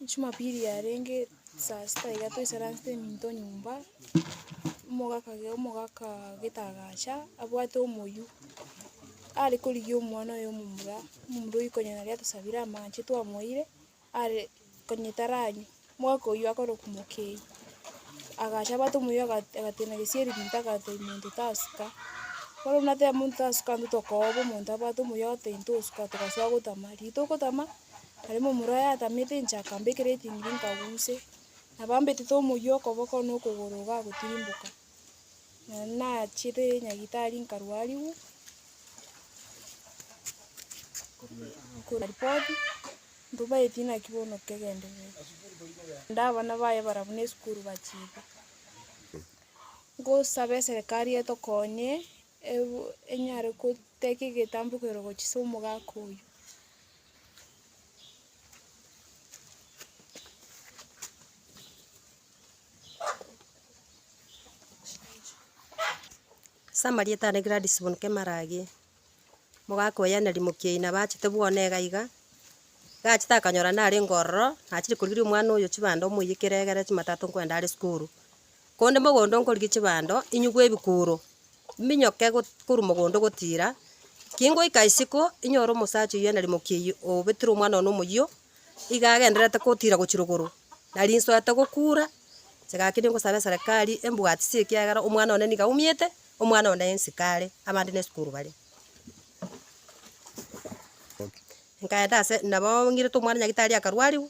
Jumapili yarenge saa sita iga toisaransete eminto nyomba, omogaka ake omogaka gete agacha abwate omoyio, are korigia omwana oye omomura, omomura oyio konya nari atosabire amache twamoire, are konya taranywa, omogaka oyio akare okomokei, agacha abwate omoyio aga agateena gesieri ginto agata omonto tasuka, bono nateba omonto tasuka intwe tokooba omonto abwate omoyio agoteba intwe osuka togasoa gotama, rituko tama. Yarenge omoro oye atamete inche akambekera eting'iri nkaguse, nabo ambetete omoyia okoboko na okogoro iga agotirimboka. Nonye nachiete nyagitari nkarwariwu, ripoti, ntobaeti naki bono kegendererwa. Naende abana baye barabwo na esukuru bachiete. Ngosaba eserekari etokonye. Ebu enyare goteka egetambokero gochia ase omogaka oyio. Ase amarieta ane Gladys Bonuke Marage, omogaka oye na Rimokia oye nabo achete bwona iga iga, iga achete akanyora narenge ororo, nachire korigereria omwana oyo chibando omoiyekere egere chimatate nkwenda are sukuru. Konde mogondo nkorige chibando, inyugwe ebikuro, mbinyoke korwa mogondo gotiira. Kingoika isiko, inyore omosacha oyio na rimoki eyio obetire omwana one omoyio, iga agendererete gotiira gochia rogoro, na rinsoete gokuura, inche gaki ningosabe eserekari embwatisie ekiagera omwana one nigo aumete, omwana one ensiko are, abande nesukuru bare. Nkaenda ase, nabo ng'irete omwana nyagitari akarwariwu.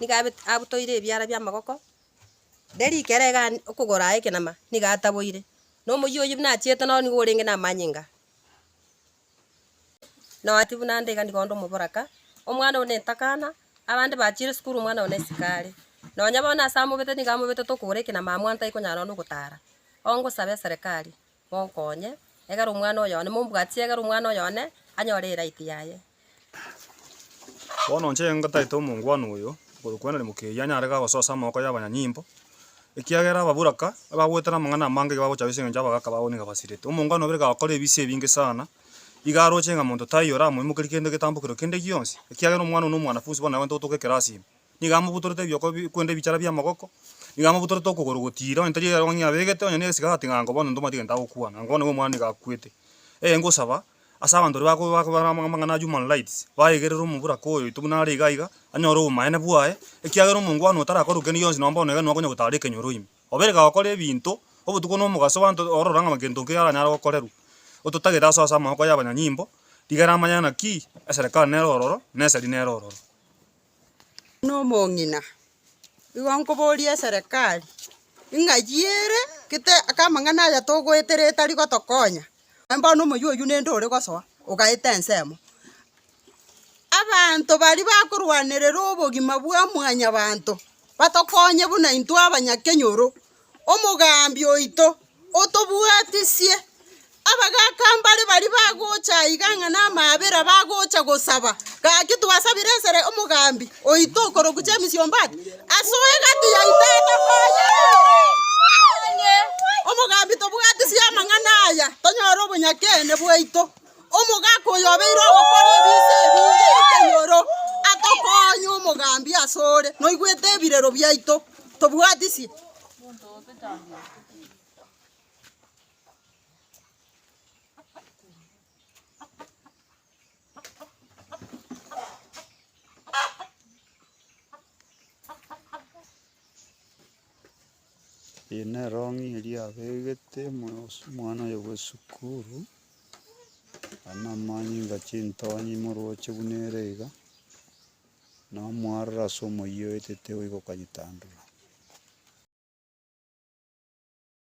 nigo abet- abutoire ebiara bi'amagoko, riria rike ere iga an- okogoro aye ekenama, nigo ataboire, na omoyio oyio buna achiete noro nigo orenge namanyinga. Na oati buna nde iga nigo onde omoboraka, omwana one etakana, abande bachire esukuru omwana one isiko are. Nonya bono ase amobetete nigo amobetete okogora ekenama amo antaikonyara onde ogotara, ongosabe eserekari, Monkonye, egera omwana oyo one, mombwatie, egera omwana oyo one anyore eraiti yaye. Bono inche ngotaete omongwana oyo okorokwa Henry Mukeiyo anyare iga gosoa ase amaboko y'abanyanyimbo, ekiagera ababoraka ebagwetire amang'ana amange iga bagocha goiseka engencho abagaka babo nigo basirete. Omongwana obo iga gakora ebise ebinge sana, iga aroche ng'a monto taiyo oramoimokerie kende egetambokero kende gionsi, ekiagera omwana oyio nomwanafunsi bono nagwete gotoka ekerasi ime. nigo amobutorete ebioko bi kwenda ebichara bi'amagoko, nigo amobutorete okogoro gotiira, onye tari erogio ng'a abegete, onye negesike agatiga ng'a nkobondo ntomanyete egento agokwana, nkobondo nigo omwana nigo akwete. Ee ngosaba, ase abanto baria bako bako bare amang'ana a human rights, baegerere omoboraka oyo oito buna are iga iga, anyore obomaene bwaye, ekiagera omongwana otarakora gokenda gionsi nonye bono iga nigo akonya gotara ekenyoro ime. Obe iga gokora ebinto, obotuko na omogaso abanto orora ng'a gento nkeiyo aranyare gokorerwa. Ototagete asoa ase amaboko ya abanyanyimbo, rigera amanye ng'a ki, eserekari nere ororo, na esegi nere ororo. Buna omong'ina, igo nkoboria eserekari, ing'achi ere gete aka amang'ana aya togoeta ere etari gotokonya, aye bono omoyio oyio nende ore gosoa, ogaeta ensemo. Abanto baria bakorwanerera obogima bwa mwanyabanto, batokonye buna intwe abanyakenyoro. omogaambi oito, otobwatisie. Abagaaka mbare baria bagocha aiga ng'a namaabera bagocha gosaba, gaki twasabire esere omogaambi oito okorokwa James Ombati, asoe egati ya Tata oye. Omogaambi tobwatisie amang'ana aya, tonyore obonyakeene bwaito. Omogaka oyo obeire ogokora ebinto ebinge ekenyoro, atokoonye omogambi asore, noigwete ebirero biaito, tobwatisi. Eye nerong'i eria abegete omwana oye bwe esukuru, aye namanye ng'a chintonye imoroche buna ere iga, namoarora ase omoyio etete oigokanyetandora.